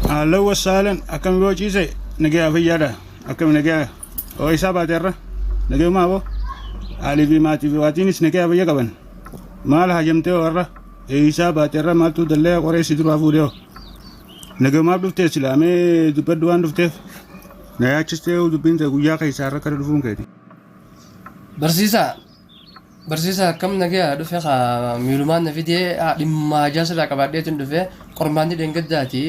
Haallo wasaalan akkami boo ciise nagaya fayyaadha akkami nagaya oo isaa baate irra nagayumaa boo haalii fi maatii fi waatiinis nagaya fayya qaban maal hajamtee oo irra isaa baate irra maaltu dallee qoree si duraa fuudhee oo nagayumaaf dhuftee silaamee dubbaddu waan dhufteef Na yaachistee dubbiin ta'e guyyaa keessaa irra kana dhufuun keeti. Barsiisaa. Barsiisaa akkam nagaya dhufe kaa miilumaan na fidee haa dhimma hajaa sirraa qabaadheetiin dhufe qormaanni dheengaddaati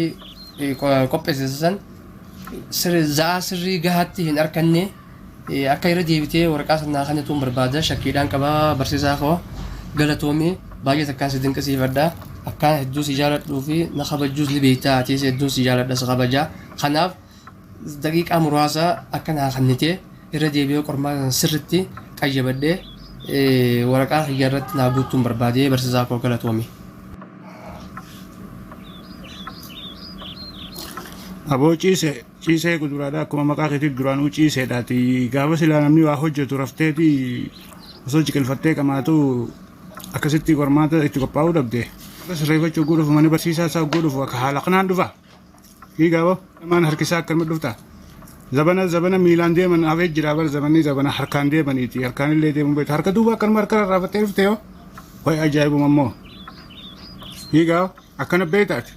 eh, qo- qopheessisa san sirri za'aa sirrii gahaatti hin arkanne eh, akka irra deebitee waraqaa sanaa kana tuun barbaada shakkiidhaan qaba barsiisaa koo galatoomii baay'ee takkaan si dinqisiifadha akkaan hedduu si jaaladhuu fi na kabajuus ni beektaa atiis hedduun si jaaladha si kabajaa kanaaf daqiiqaa muraasa akka naa kannite irra deebi'ee qormaata sana sirritti qayyabadhee waraqaa kiyya irratti naa guutuun barbaadee barsiisaa koo galatoomi. Aboo ciise ciisee guduraadha akkuma maqaa keetiif duraanuu ciiseedhaati gaafa silaa namni waa hojjetu rafteeti osoo ciqilfattee qamaatu akkasitti qormaata itti qophaa'uu dhabde sirreeffachuu godhuuf mana barsiisaa isaa godhuuf akka haala kanaan dhufa. Dhiigaa boo namaan harkisaa akkanuma dhuftaa. Zabana zabana miilaan deeman hafee jira bar zabanni zabana harkaan deemaniiti harkaan illee deemuun beektu harka duuba akkanuma harka rarraafattee dhufte yoo wayi ajaa'ibuma immoo dhiigaa akkana beektaati.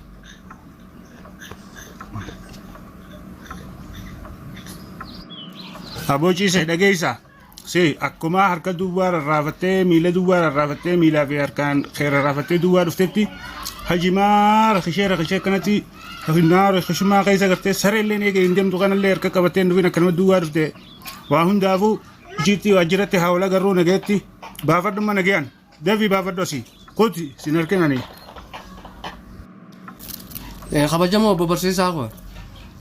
Aboo ciisee dhageessaa. Si akkuma harka duwwaa rarraafattee miila duwwaa rarraafattee miilaa fi harkaan kee rarraafattee duwwaa dhuftetti hajimaa rakishee rakishee akkanatti rakinaa rakishumaa keessa gartee saree illee eega hin deemtu kanallee harka qabattee hin dhufin akkanuma duwwaa dhufte waa hundaafuu ishiitti waajjiratti haa wal agarruu nageetti baafadhumma nageyaan. Devi baafadhu asii. Kooti sin harkin ani. Eh, kabajamoo obbo barsiisaa koo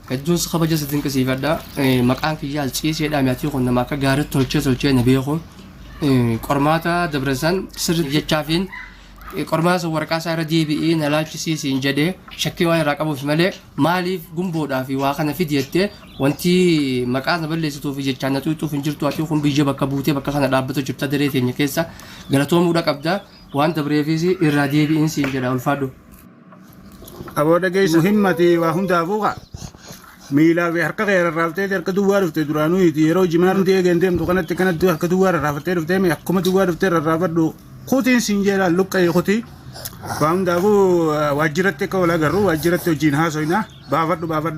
hedduun si kabaja si dinqisiifadha Eh, maqaan kiyyaa ciiseedha mi'atii kun nama akka gaariitti tolchee tolchee na beeku Eh, qormaata dabresan sirri jechaafiin eh, qormaata san waraqaa isaa irra deebi'ee na laachisiisiin jedhee shakkii waan irraa qabuuf malee maaliif gumboodhaa fi waa kana fidi jettee Wanti maqaa na balleessituuf fi jechaan na xuuxxuuf hin jirtu ati kun biyya bakka buutee bakka kana dhaabbatu jirta daree teenya keessa galatoomuudha qabda waan dabreefis irraa deebi'in siin jedha ulfaadhu. Aboo dhageessa himmati waa hundaafuu kaa. Miilaa fi harka kee rarraaftee harka duwwaa dhufte duraanuu iti yeroo jimaa nuti eegeen deemtu kanatti kanatti harka duwwaa rarraafattee dhuftee mi akkuma duwwaa dhuftee rarraafadhu kutiin siin jedha luqqa'ee kutii. Waa hundaafuu waajjiratti akka wal agarru waajjiratti hojiin haasoyna baafadhu baafadhu.